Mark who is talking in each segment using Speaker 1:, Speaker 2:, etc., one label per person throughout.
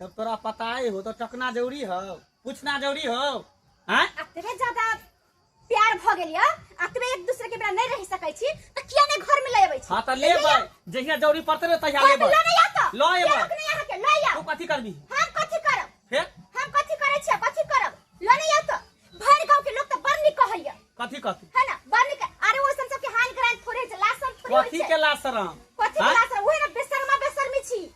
Speaker 1: जब तोरा
Speaker 2: पता ही हो तो टकना जरूरी हो पूछना जरूरी हो हैं अतबे ज्यादा
Speaker 1: प्यार भ गेल य अतबे एक दूसरे के बिना नहीं रह सकै छी त किया ने घर में ले आबै छी हां त लेबै
Speaker 2: जहिया जरूरी पड़ते रे तहिया लेबै लो नहीं आता लो एबै लोक नहीं आके लो या तू
Speaker 1: कथि करबी हम
Speaker 2: कथि करब
Speaker 1: फिर हम कथि
Speaker 2: करै छी
Speaker 1: कथि करब लो नहीं आता भर गांव के लोग त बड़ नि कहै य कथि कथि है ना
Speaker 2: बड़ नि अरे
Speaker 1: ओसन सब के हाल ग्रांड थोड़े से लासन थोड़े कथि के लासरम
Speaker 2: कथि के लासरम ओहे
Speaker 1: ना बेसरमा बेसरमी छी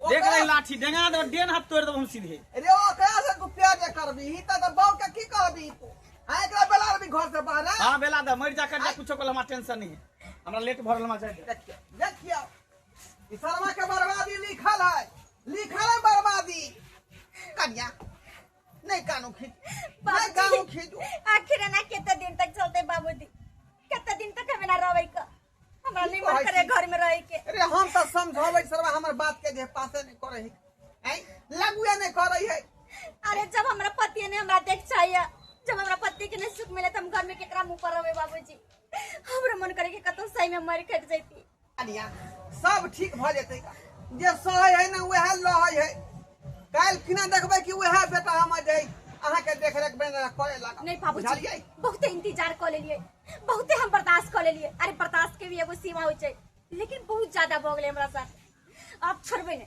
Speaker 1: देख रही लाठी
Speaker 2: डेंगा दो डेन हाथ तोड़ दो हम सीधे अरे ओ कया से
Speaker 3: तू प्यार जे करबी ही त बाव के की कहबी तू आ एकरा बेला भी घर से बाहर हां बेला द मर जा कर
Speaker 2: जा कुछो कोला हमरा टेंशन नहीं है हमरा लेट भरल मा जाए देखियो देखियो
Speaker 3: ई शर्मा के बर्बादी लिखल है लिखल है बर्बादी कन्या नहीं कानू खींच नहीं कानू खींच आखिर
Speaker 1: ना केते दिन तक चलते बाबूजी केते दिन तक हमें ना रोवे का हमरा की निमन कहै करे छी? घर में रह के अरे हम तो समझावे
Speaker 3: सरवा हमर बात के जे पासे नहीं करे है हैं? लगुए नहीं करे है अरे जब हमरा
Speaker 1: पति ने हमरा देख चाहिए जब हमरा पति के नहीं सुख मिले तो हम घर में केकरा मुंह पर रहे बाबूजी हमरा मन करे के कतौ सही में मर कट जैती अनिया
Speaker 3: सब ठीक भ जेतै का जे सहै है ना वएह लहै है काल किना देखबै कि वएह बेटा हमर जे अहाँ के देख रेख बन करे लगा नहीं बाबूजी बुझलियै
Speaker 1: बहुते इंतजार कर लेलिए बहुते हम बर्दाश्त कर लेलिए अरे बर्दाश्त के भी एगो सीमा हो छै लेकिन बहुत ज्यादा भऽ गेलै हमरा साथ अब छोड़बे ने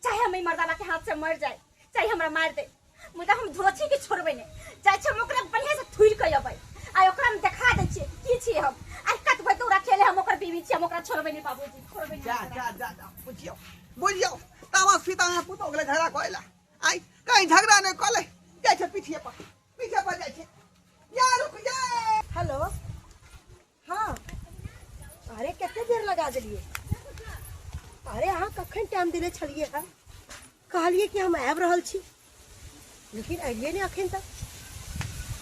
Speaker 1: चाहे हम ई मर्दाना के हाथ से मर जाए चाहे हमरा मार दे मुदा हम धोछी के छोड़बे ने चाहे छै हम ओकरा बढ़िया से थुइल के अबै आ ओकरा हम देखा दै छियै की छियै हम आ कतबै तो रखेले हम ओकर बीवी छियै हम ओकरा छोड़बे ने बाबूजी
Speaker 3: छोड़बे जा ने जा जा जा बुझियो बुझियो तामस फिता पुतो गेलै झगड़ा करै ला आइ कहीं झगड़ा नहि कऽ ले जाइ छै पीठिए पर पीछे पड़ जाए
Speaker 4: छे या रुक जाए हेलो हाँ अरे कते देर लगा दिलिए अरे अहाँ कखन टाइम दिले छलिए है कहलिए कि हम आब रहल छी लेकिन अलिए नहीं अखन तक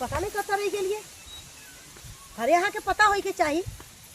Speaker 4: पता नहीं कत रह गलिए अरे अहाँ के पता होइके चाहिए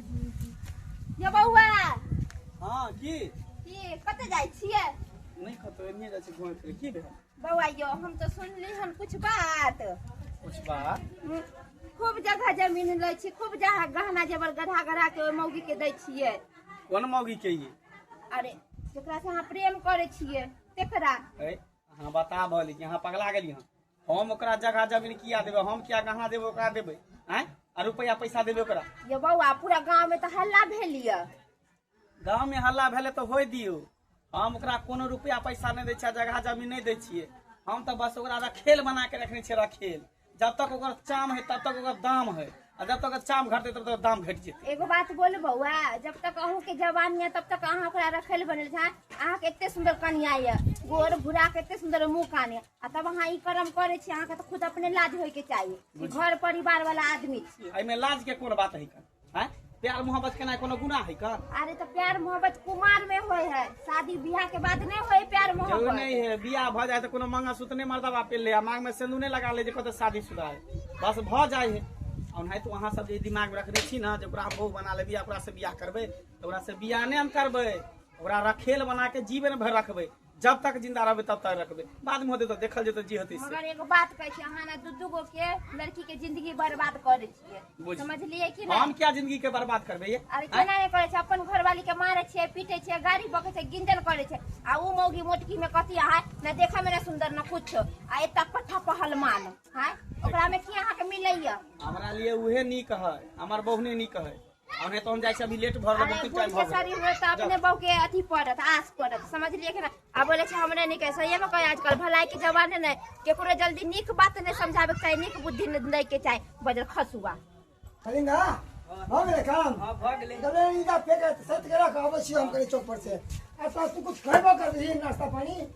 Speaker 2: ये बौआ हाँ की की कतऽ जाइ छियै नहीं कतो एने जाइ छी घुमै फिरै की भेल बौआ यो हम तो
Speaker 1: सुनली हन कुछ बात कुछ बात हम्म,
Speaker 2: खूब
Speaker 1: जगह जमीन लै छी खूब जहाँ गहना जेवर गधा गधा के ओहि मौगी के दै छियै कोन मौगी के
Speaker 2: ये अरे
Speaker 1: जेकरा से अहाँ प्रेम करै छियै तेकरा ए अहाँ
Speaker 2: बता भली कि अहाँ पगला गेली हँ हम ओकरा जगह जमीन किया देबै हम किया गहना देबै ओकरा देबै आँय आ रुपैआ पैसा देबै ओकरा ये बौआ पूरा
Speaker 1: गांव में तो हल्ला भेल ये गाँव
Speaker 2: में हल्ला भेलै तऽ होय दियौ हम ओकरा कोनो रुपैआ पैसा नहि दै छियै आ जगह जमीन नहि दै छियै हम तऽ बस ओकरा रखेल बना के रखने छियै रखेल जब तक ओकर चाम है तब तक ओकर दाम है आ जब तक ओकर चाम घटतै तब तक दाम घटि जेतै एगो बात बोल बौआ
Speaker 1: जब तक अहूँ के जवान ये तब तक अहाँ ओकरा रखेल बनल छा अहाँ के एते सुंदर कनिया ये गोर भूरा के एते सुंदर मुंह कान ये आ तब अहाँ ई कर्म करै छी अहाँके तऽ खुद अपने लाज होइके चाही कि घर परिवार वाला आदमी छी एहिमे लाज के कोन बात
Speaker 2: है का हैं? प्यार मोहब्बत केना कोनो गुनाह है का अरे तो प्यार
Speaker 1: मोहब्बत कुमार में होय है शादी ब्याह के बाद नहीं होय प्यार जरूर मोहब्बत नहीं है बियाह
Speaker 2: भ
Speaker 1: जाए
Speaker 2: तो कोनो मंगा सूत्र नहीं मर्दा बाप ले आ मांग में सिंदूर नहीं लगा ले जे कहते शादी शुदा है बस भ जाए है और नहीं तो वहाँ सब जे दिमाग में रखने छी ना जे ओकरा हम बहू बना लेबी ओकरा से बियाह करबे तो ओकरा से बियाह नहीं हम करबे ओकरा रखेल बना के जीवन भर रखबे जब तक जिंदा रहबे तब तक रखबे बाद में होते तो देखल जेतो जी होते मगर एगो बात कहे छी
Speaker 1: अहाँ ना दू दू गो के लड़की के जिंदगी बर्बाद करे छियै बुझ। समझलियै कि ना हम क्या जिंदगी के बर्बाद
Speaker 2: करबे ये अरे केना नहि करे छै
Speaker 1: अपन घरवाली के मारे छियै पीटे छियै गाड़ी बके छै गिंदन करे छै आ उ मौगी मोटकी में कथी है ना देखे में ना सुंदर ना कुछ आ एता पट्ठा पहलमान है ओकरा में की अहाँ के मिलैया हमरा लिए उहे
Speaker 2: नीक है हमार बहुने नीक है और नहीं तो हम जाए से अभी लेट भर अरे बहुत बुढ़ टाइम के हो गया शरीर
Speaker 1: में तो अपने बहू के अथी पड़त आस पड़त समझ लिए कि ना आ बोले छै हमरे नहीं कहे सही में कहे आजकल भलाई के जमाने नहीं केकरो जल्दी नीक बात नहीं समझावे के चाही नीक बुद्धि नहीं दै के चाही बजल खसुआ कलिंगा हो गेलै काम
Speaker 5: हां भ गेलै तबे
Speaker 2: इनका पेट
Speaker 5: सत के रख अबै छी हम कनी चौक पर से आ सासु कुछ खैबो कर दही नाश्ता पानी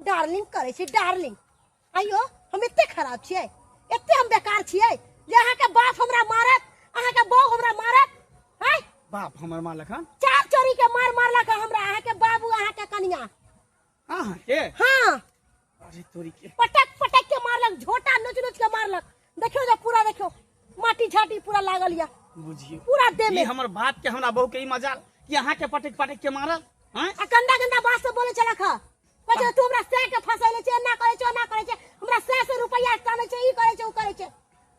Speaker 4: डार्लिंग करे छी डार्लिंग आइयो हम एते खराब छियै एते हम बेकार छियै जे अहाँ के बाप हमरा मारत अहाँ के बहू हमरा मारत हैं बाप हमर माँ
Speaker 2: लखन चार चोरी के मार
Speaker 4: मारलक हँ हमरा अहाँ के बाबू अहाँ के कनिया अहाँ
Speaker 2: के हाँ
Speaker 4: अरे तोरी
Speaker 2: के पटक पटक के मारलक
Speaker 4: झोटा नोच नोच के मारलक देखियो जे पूरा देखियो माटी झाटी पूरा लागल या बुझियो पूरा देह
Speaker 2: ई में हमर
Speaker 4: बात के हमरा बहू
Speaker 2: के ई मजाल कि अहाँ के पटक पटक के मारल हैं आ गंदा गंदा बात
Speaker 4: सब बोले चला खा कहे तू हमरा सै के फसैले छे ना करे छे ना करे छे हमरा सै से रुपया टाने छे ई करे छे उ करे छे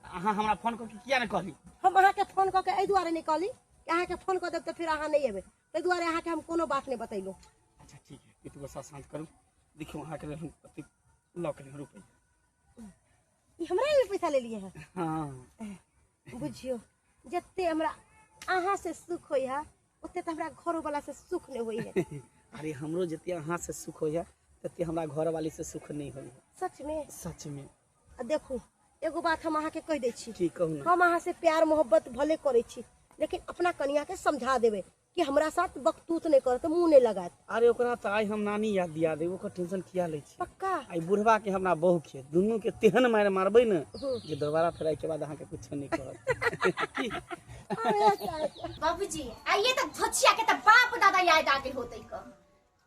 Speaker 4: अहाँ हमरा फोन
Speaker 2: करके किया ने कहली हम अहाँ के फोन कऽ के
Speaker 4: एहि दुआरे नहि कहली कि अहाँ के फोन कऽ देब तऽ फिर अहाँ नहि एबै ताहि दुआरे अहाँ के हम कोनो बात नहि बतैलहुँ अच्छा ठीक है
Speaker 2: कितु बस शांत करू देखियो अहाँ के हम कते लॉक रहे रुपए
Speaker 4: ई हमरा लेल पैसा लेलिए है हँ
Speaker 2: बुझियो
Speaker 4: जते हमरा अहाँ से सुख होई है ओते तो हमरा घरो वाला से सुख नहीं होई है अरे हमरो जते
Speaker 2: अहाँ से सुख होइए तते हमरा घर वाली से सुख नहीं होइए सच में सच में आ देखू
Speaker 4: एगो बात हम अहाँ के कह दै छी की कहू ना हम अहाँ से
Speaker 2: प्यार मोहब्बत
Speaker 4: भले करे छी लेकिन अपना कनिया के समझा देबे कि हमरा साथ बकतूत नहीं करत मुंह नहीं लगात अरे ओकरा त आइ हम
Speaker 2: नानी याद दिया दे ओकर टेंशन किया लै छी पक्का आइ बुढ़वा के
Speaker 4: हमरा
Speaker 2: बहु के दुनू के तेहन मार मारबै ने हम्म। जे दोबारा फेर आइ के बाद अहाँ के कुछ नहीं कहत की बाबूजी
Speaker 1: आइए तक धोचिया के तब बाप दादा याद आ गेल होते क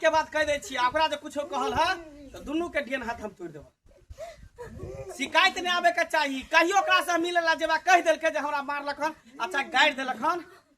Speaker 3: के बाद कह दे छी
Speaker 2: ओकरा जे कुछो कहल है तो दुनू के डेन हाथ हम तोड़ देब शिकायत नहीं आवे के चाहिए कहियो ओकरा से मिले ला जेबा कह दिल जे हमरा मारलक हन अच्छा गाड़ि दिलक हन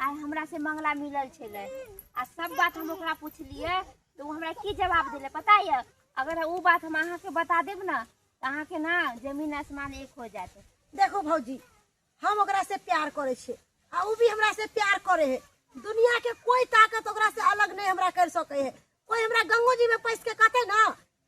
Speaker 6: आइ हमरा से मंगला मिलल छलै आ सब बात हम ओकरा पुछलियै तऽ ओ हमरा की जवाब देले पता यऽ अगर ओ बात हम अहाँके बता देब ने तऽ अहाँके ना जमीन आसमान एक हो जायत देखो भौजी
Speaker 4: हम ओकरा से प्यार करे छे आ उ भी हमरा से प्यार करे है दुनिया के कोई ताकत ओकरा से अलग नहीं हमरा कर सके है कोई हमरा गंगो जी में पैस के कहते ना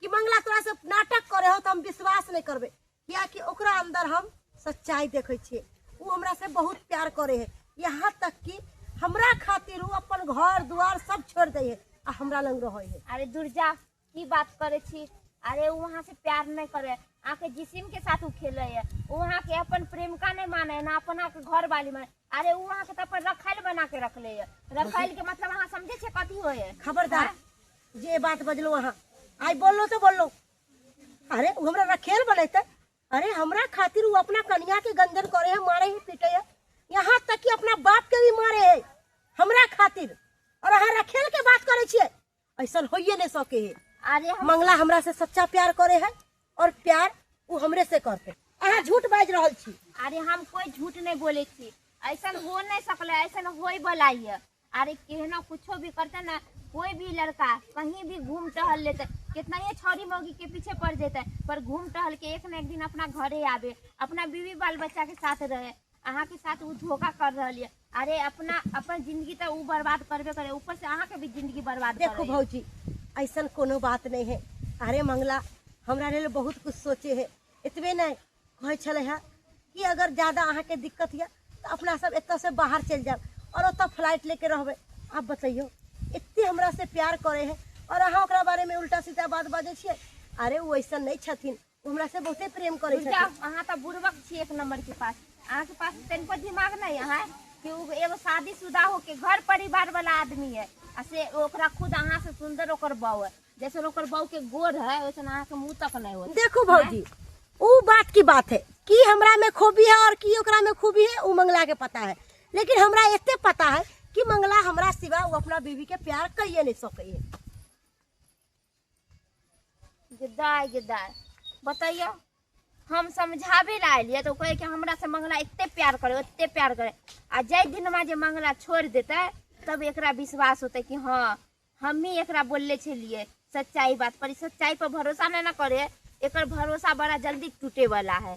Speaker 4: कि मंगला तोरा से नाटक करे हो तो हम विश्वास नहीं करबे कियाकि ओकरा अंदर हम सच्चाई देखे छिए वो हमरा से बहुत प्यार करे है यहाँ तक कि हमरा खातिर वो अपन घर द्वार सब छोड़ दे है आ हमरा लंग रहे है अरे दुर्जा
Speaker 6: की बात करे छी अरे वो वहाँ से प्यार नहीं करे आके जिसिम के साथ वो खेले है वो वहाँ के अपन प्रेमिका नहीं माने है ना अपना के घर वाली माने अरे उ अहाँ के त अपन रखाइल बना के रखले है रखाइल के मतलब अहाँ समझे छे कथी होय है खबरदार
Speaker 4: जे बात बजलो अहाँ आइ बोललो तो बोललो अरे उ हमरा रखेल बनैते अरे हमरा खातिर उ अपना कनिया के गंजन करे है मारे है पीटे है यहाँ तक कि अपना बाप के भी मारे है हमरा खातिर और अहाँ रखेल के बात करे छिए ऐसा होइए नहीं सके है अरे हम मंगला हमरा
Speaker 6: से सच्चा
Speaker 4: प्यार करे है और प्यार वो हमरे से करते अहाँ झूठ बाज रहल छी अरे हम कोई
Speaker 6: झूठ नहीं बोले छी ऐसा हो नहीं सकले ऐसा होई वाला ये अरे केहनो कुछो भी करते ना कोई भी लड़का कहीं भी घूम टहल लेते कितना ही छोरी मौगी के पीछे पड़ जेते पर घूम टहल के एक न एक दिन अपना घरे आवे अपना बीवी बाल बच्चा के साथ रहे अहाँ के साथ वो धोखा कर रहल है अरे अपना अपन जिंदगी तो वो बर्बाद करबे करे ऊपर से अहाँ के भी जिंदगी बर्बाद कर देखो रही है। भौजी ऐसन
Speaker 4: कोनो बात नहीं है अरे मंगला हमरा लेल बहुत कुछ सोचे है एतबे नहीं कहै छलै है कि अगर ज्यादा अहाँके दिक्कत यऽ तऽ अपना सब एतऽ से बाहर चलि जायब और ओतऽ फ्लाइट लेके रहबै आब बतैयौ एते हमरा से प्यार करे है और अहाँ ओकरा बारे में उल्टा सीधा बात बाजै छियै अरे ओ ऐसन नहि छथिन ओ हमरा से बहुते प्रेम करै बुझि जाउ, छथिन अहाँ तऽ बुड़बक छी एक
Speaker 6: नंबर के पास अहाँ के पास तनिको दिमाग नहीं है कि उ एगो शादीशुदा होके घर परिवार वाला आदमी है आ से ओकरा खुद अहाँ से सुंदर ओकर बहू है जैसन ओकर बहू के गोर है वैसन अहाँ के मुंह तक नहीं होत देखू भौजी
Speaker 4: उ बात की बात है कि हमरा में खूबी है और की ओकरा में खूबी है उ मंगला के पता है लेकिन हमरा एते पता है कि मंगला हमरा सिवा उ अपना बीवी के प्यार कहिए नहीं सके है
Speaker 6: गदाय गदाय बतैयो हम समझाबे ला एलियै तऽ ओ कहै कि हमरा से मंगला एते प्यार करे ओते प्यार करे आ जाहि दिनमा जे मंगला छोड़ देते तब एकरा विश्वास होते कि हाँ हमही एकरा बोलले छलिए सच्चाई बात पर ई सच्चाई पर भरोसा नहीं ना करे एकर भरोसा बड़ा जल्दी टूटे वाला
Speaker 1: है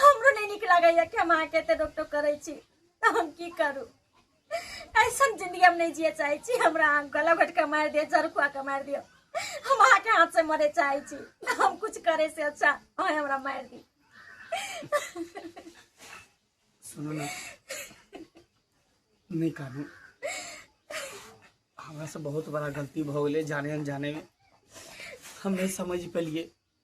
Speaker 1: हमरो नहीं निक लगैया कि हम अहाँके एते रोक टोक करै छी तऽ हम की करू ऐसन जिंदगी हम नहीं जिए चाहे छी हमरा अहाँ गला घोट के मारि दिअ जड़ खुआ के मारि दिअ हम अहाँके हाथ से मरे चाहे छी हम कुछ करे से अच्छा अहाँ हमरा मारि दी
Speaker 2: सुनू ने नहि कानू हमरा से बहुत बड़ा गलती भऽ गेलै जाने अनजाने मे हम नहि समझ पेलियै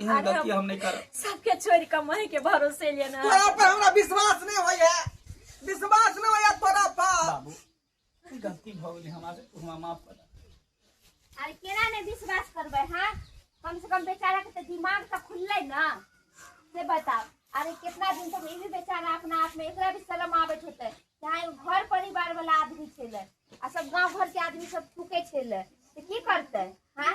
Speaker 2: एहन गलती हम नहीं करब सबके छोड़ के माई
Speaker 1: के भरोसे लेना तोरा पर हमरा विश्वास नहीं होइए विश्वास
Speaker 3: नहीं होइए तोरा पर बाबू ई गलती भ गेलै हमरा से तू
Speaker 2: हमरा माफ कर दे। अरे
Speaker 6: केना ने विश्वास करबे हाँ कम से कम बेचारा के तो दिमाग तो खुलले ना से बताओ अरे कितना दिन तक ई भी बेचारा अपना आप में एकरा भी शर्म आबत होते चाहे उ घर परिवार वाला आदमी छेले आ सब गांव घर के आदमी सब थूके छेले तो की करते हाँ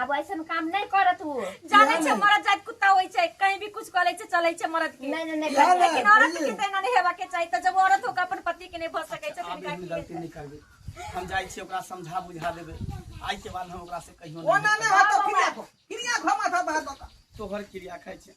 Speaker 6: अब ऐसन काम नहीं कर तू जाने छे मरद जात
Speaker 1: कुत्ता होई छे कहीं भी कुछ करे छे चले छे मरद के नहीं नहीं नहीं ना,
Speaker 6: कर। ना, लेकिन औरत के
Speaker 1: तेना नहीं हेबा के चाहिए तो जब औरत होकर अपन पति के नहीं भर सके छे आब फिर एहन का गलती की नहीं करबै
Speaker 2: हम जाइ छी ओकरा समझा बुझा देबै आइ के बाद हम ओकरा से कहियो ओ ना नहीं ना हतो फिरिया
Speaker 3: को
Speaker 2: फिरिया
Speaker 3: घमा था बाहर बका तोहर क्रिया खाइ
Speaker 2: छै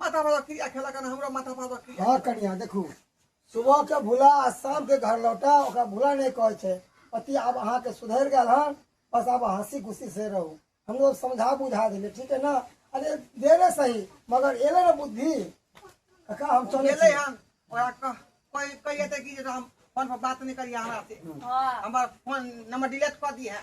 Speaker 3: माथा पर क्रिया खेला करना हमरा माथा पर क्रिया हाँ कनिया देखू
Speaker 5: सुबह के भूला आ शाम के घर लौटा ओकरा भूला नहीं कहे छे पति आब अहाँ के सुधर गए हन बस आब हंसी खुशी से रहू हम लोग समझा बुझा दिले ठीक है ना अरे देरे सही मगर एले ना बुद्धि कका हम चले गेले छी। हम ओरा कह कोई कोई एते की जे हम फोन पर बात नहीं करिए
Speaker 3: हमरा से हाँ हमर फोन नंबर डिलीट कर दी है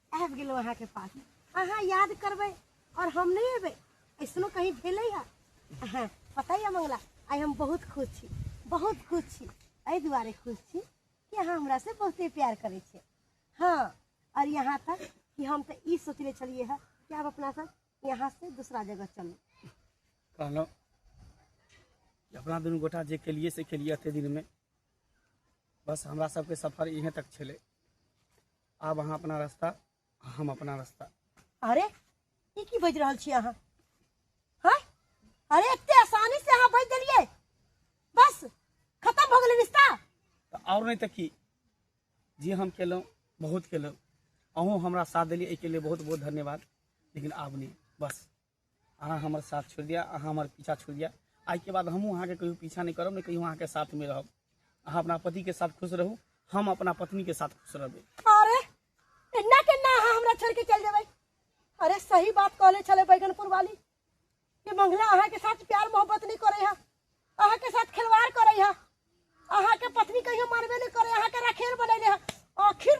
Speaker 4: आबि गेलहुँ अहाँके पास अहाँ याद करबै आओर हम नहि अयबै ऐसनो कहीं भेलै है अहाँ पता यऽ मंगला आइ हम बहुत खुश छी बहुत खुश छी एहि दुआरे खुश छी कि अहाँ हमरा से बहुते प्यार करै छियै हँ आओर यहाँ तक कि हम तऽ ई सोचले छलियै है कि आब अपना सब यहाँ से दूसरा जगह चलू कहलहुँ
Speaker 2: कि अपना दुनू गोटा जे केलिए से केलिए एते दिनमे बस हमरा सबके सफर इहें तक छलै आब अहाँ अपना रास्ता हम अपना रास्ता अरे
Speaker 4: ई की बाजि रहल छी अहाँ हाँ अरे एते आसानी से अहाँ बाजि देलियै बस खत्म भऽ गेलै रिश्ता तऽ आओर नहि तऽ
Speaker 2: की जे हम केलहुँ बहुत केलहुँ अहूँ हमरा साथ देलियै एहिके लिए बहुत बहुत धन्यवाद लेकिन आब नहि बस अहाँ हमर साथ छोड़ि दिअ अहाँ हमर पीछा छोड़ि दिअ आइके बाद हमहूँ अहाँके कहियो पीछा नहि करब नहि कहियो अहाँके साथमे रहब अहाँ अपना पतिके साथ खुश रहू हम अपना पत्नीके साथ खुश रहबै अरे
Speaker 4: एना केना अहाँ हमरा छोड़ के चल जेबै अरे सही बात कहले छले बैगनपुर वाली कि मंगला अहाँ के साथ प्यार मोहब्बत नहीं करे है अहाँ के साथ खिलवाड़ करे है अहाँ के पत्नी कहियो मानबे नहीं करे अहाँ के रखेल बनैले है आखिर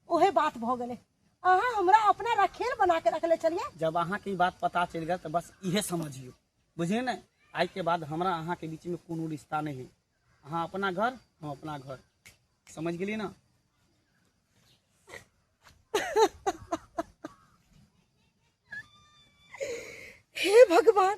Speaker 4: ओहे बात भ गेले अहाँ हमरा अपना रखेल बना के रखले चलिए जब अहाँ के ई बात पता
Speaker 2: चल गया तो बस इहे समझियो बुझे न आई के बाद हमरा अहाँ के बीच में कोनो रिश्ता नहीं है अहाँ अपना घर हम अपना घर समझ गेली ना
Speaker 4: हे भगवान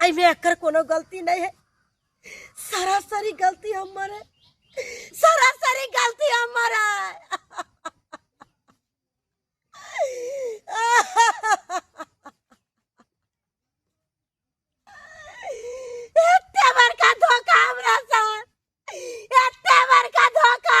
Speaker 4: एहिमे एकर कोनो गलती नहीं है सरासरी गलती हमर है सरासरी गलती हमर है एते बड़का धोखा हमरा साथ एते बड़का धोखा